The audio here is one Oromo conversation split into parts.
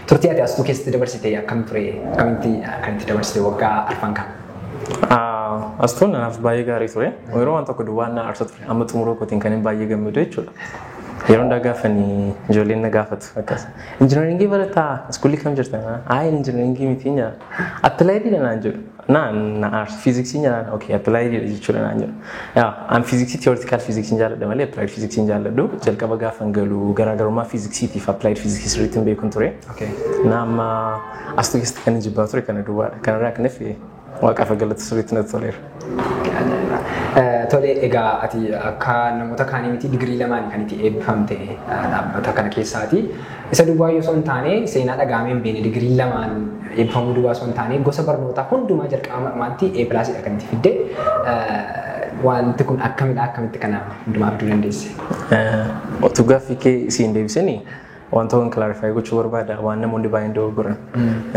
Turtii ati astuu keessatti dabarsite akkam ture? Akkamitti kan itti dabarsite waggaa arfan kan? Astuun naaf baay'ee gaarii ture. Yeroo waan tokko duwwaan na aarsa ture. Amma xumuruu kootiin kan hin baay'ee gammadu jechuudha. Yeroo hundaa gaafanii ijoolleen na gaafatu akkas. Injinaringii barataa iskuulii kam jirtan? Haa injinaringii miti nyaa. Appilaayidii dha naan jedhu. Na na aarsu fiiziksii nyaanaan okay appilaayidii dha jechuudha naan jedhu. Yaa an fiiziksii tiyoortikaal fiiziksiin jaalladha malee appilaayid fiiziksiin jaalladhu. Jalqaba gaafa hin galu garaagarummaa fiiziksiitiif appilaayid fiiziksii sirriitti hin beekun ture. Okay. Na amma asxuu keessatti kan hin jibbaa ture kana duwwaadha. Kanarraa kan hafe waaqaaf galata sirriitti natti toleera. Tole egaa ati akka namoota kaanii miti digirii lamaan kan itti eebbifamte dhaabbata kana keessaati. Isa duwwaa yoo osoo hin taane seenaa dhagahamee hin beekne digirii lamaan eebbifamuu duwwaa osoo hin taane gosa barnootaa hundumaa jalqaba marmaatti A pilaasidha kan itti fidde. Wanti kun akkamidha akkamitti kana hundumaa fiduu dandeesse? Otuu gaaffii kee siin deebisini Wanta waan clarify gochuu barbaada waan namoonni baay'een dogoggoran.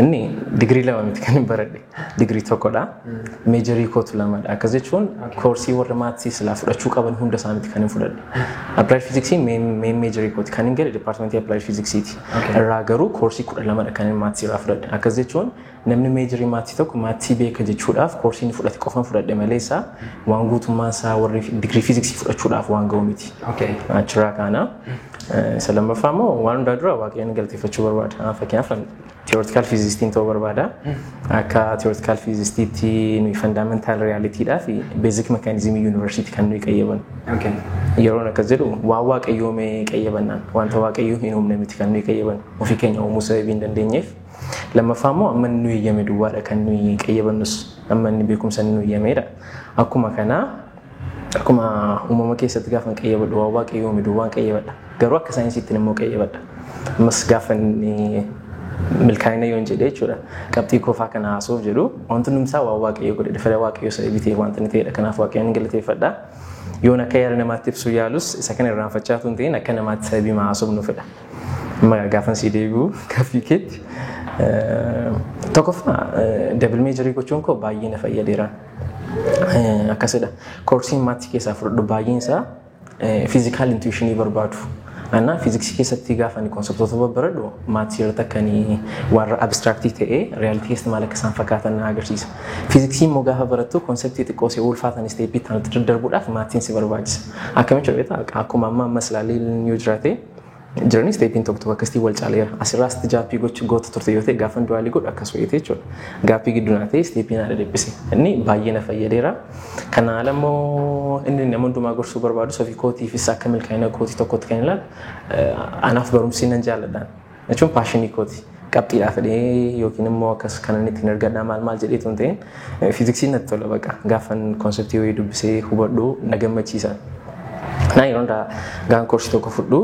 Inni digirii lama miti kan hin baradhe. Digirii tokkodha. Meejarii kootu lamadha. Akkas jechuun koorsii warra maatii silaa fudhachuu qaban hunda isaa miti kan hin fudhadhe. Applied physics main main meejarii kooti kan hin gale departmentii applied physics ti. Irraa garuu koorsii kudha lamadha kan hin maatii irraa fudhadhe. Akkas jechuun Namni meejarii maatsii tokko maatsii beeka jechuudhaaf koorsii inni fudhate qofan fudhadhe malee isaa waan guutummaan isaa warri digirii fiiziksii fudhachuudhaaf waan ga'u miti. Okay. Achirraa kaana. Eh, Isa lammaffaa immoo waan hundaa dura waaqayyoon galateeffachuu barbaada. Ah, Fakkeenyaaf tiyoortikaal fiizistiin ta'uu barbaada. Akka tiyoortikaal fiizistiitti nuyi fandaamentaal riyaaliitiidhaa fi beezik mekaanizimii yuunivarsiitii kan nuyi qayyaban. Okay. Yeroon akkas jedhu waan waaqayyoomee qayyabannaan wanta waaqayyoo hin uumne miti kan nuyi qayyaban ofii keenya uumuu sababii hin dandeenyeef Lammaffaa immoo amma inni nu eeyyame duwwaadha kan nuyi qayyabannus amma inni beekumsa inni nu eeyyameedha. Akkuma kana akkuma uumama keessatti gaafa hin qayyabadhu waan waaqayyo uume duwwaan qayyabadha. Garuu akka saayinsiittiin immoo qayyabadha. Ammas gaafa inni milkaa'ina yoon jedhee jechuudha. Qabxii koofaa kana haasuuf jedhu wanti hundumsaa waan waaqayyo godhedha. Fedha waaqayyo isa bitee wanti inni ta'edha. Kanaaf waaqayyoon hin galateeffadha. Yoon akka yaada namaatti ibsuu yaalus isa kana irraanfachaa tun ta'in akka namaatti sababii haasuuf nu fedha. Maya gaafan sii deebi'u gaaffii keetti. Tokkoffaa dabil meejarii gochuun koo baay'ee na fayyadeera. Akkasidha. Koorsiin maatii keessaa fudhadhu baay'een isaa fiizikaal intuwishinii barbaadu. Anaa fiiziksii keessatti gaafa ani konseptoota babbaradhu maatii irratti akka ani warra abistiraaktii ta'ee riyaalitii keessatti maal akka isaan fakkaatan na agarsiisa. Fiiziksii immoo gaafa barattu konseptii xiqqoo si ulfaatan isteeppii itti aanutti daddarbuudhaaf maatiin si barbaachisa. Akkamitti beektaa akkuma amma ammas ilaalee yoo jiraate jiranii isteepiin tokko tokko akkasitti wal caaleera. Asirraa sitti jaappii gochuu goota turte yoo ta'e gaafan du'aalii godhu akkas wayite jechuudha. Gaappii gidduu naa ta'e isteepii naa dhadhiphise. Inni baay'ee na fayyadeera. Kana haala immoo inni nama hundumaa gorsuu barbaadu sofi kootiifis akka milkaa'ina kootii tokkotti kan ilaalu anaaf barumsi nan jaalladhaan. jechuun paashinii kooti. Qabxiidhaa fedhee yookiin immoo akkas kanan ittiin argadhaa maal maal jedhee tun ta'in fiiziksiin natti tola baqa. Gaafan konseptii wayii dubbisee hubadhu na gammachiisa. Naa yeroo hundaa gaan koorsii tokko fudhu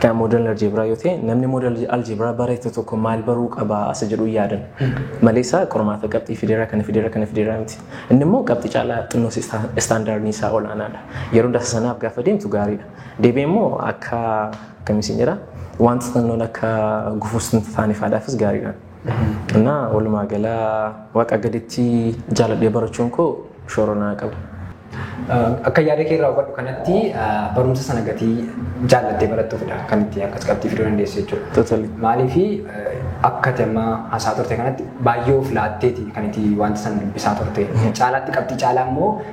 kan moodel aljeebraa yoo ta'e namni moodel aljeebraa barate tokko maal baruu qaba isa jedhu yaadan. Maleessa qormaata qabxii fideera kana fideera kana fideera miti. Inni immoo qabxii caalaa xinnoos istaandaardiin isaa olaanaadha. Yeroo hundaa sanaaf gaafa deemtu gaariidha. Deebi'ee immoo akka akkam isin jedha wanta tannoon akka gufuus hin taane faadhaafis gaariidha. Innaa walumaa gala waaqa gaditti jaaladhee barachuun koo shoora naa qaba. Akka yaada kee irraa hubadhu kanatti barumsa sana gatii jaallattee barattuufidha kan itti akkas qabxii fiduu dandeessu jechuudha. Totally. Maaliif akka ati amma hasaa turte kanatti baay'ee of laatteeti kan itti wanta sana dubbisaa turte. Caalaatti qabxii caalaa immoo